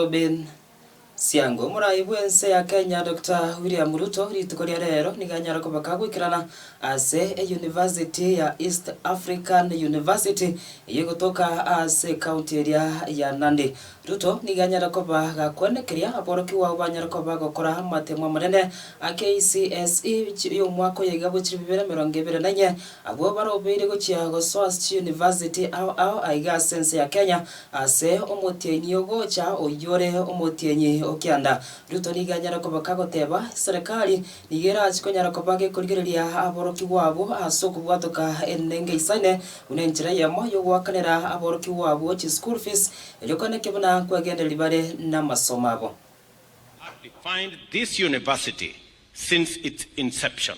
Robin Siango. Omorai bw'ense ya Kenya Doctor William Ruto rituko ria reero nigo anyare kobeka goikerana ase eyunivasiti ya East African University eyio egotoka ase ekaunti eria ya Nandi. Ruto nigo anyare koba gakwane keria aborokigwa ao banyare koba bagokora amatemo amanene a KCSE y'omwaka oyo iga gochia bibere emerongo ebere na inye, abwo barobeire gochia gosoa ase chiyunivasiti ao ao aiga ase ense ya Kenya Ase omotienyi ogocha oyio ore omotienyi o kianda, Ruto nigo anyare kobeka goteba, Serikali nigo erache konyara koba gekorigereria aborokigwa abwo ase okobwatoka enenga isaine buna enchera eyemo y'ogoakanera aborokigwa abwo chi school fees, erio kone eke buna kwegendereri bare namasomo abo. has defined this university since its inception.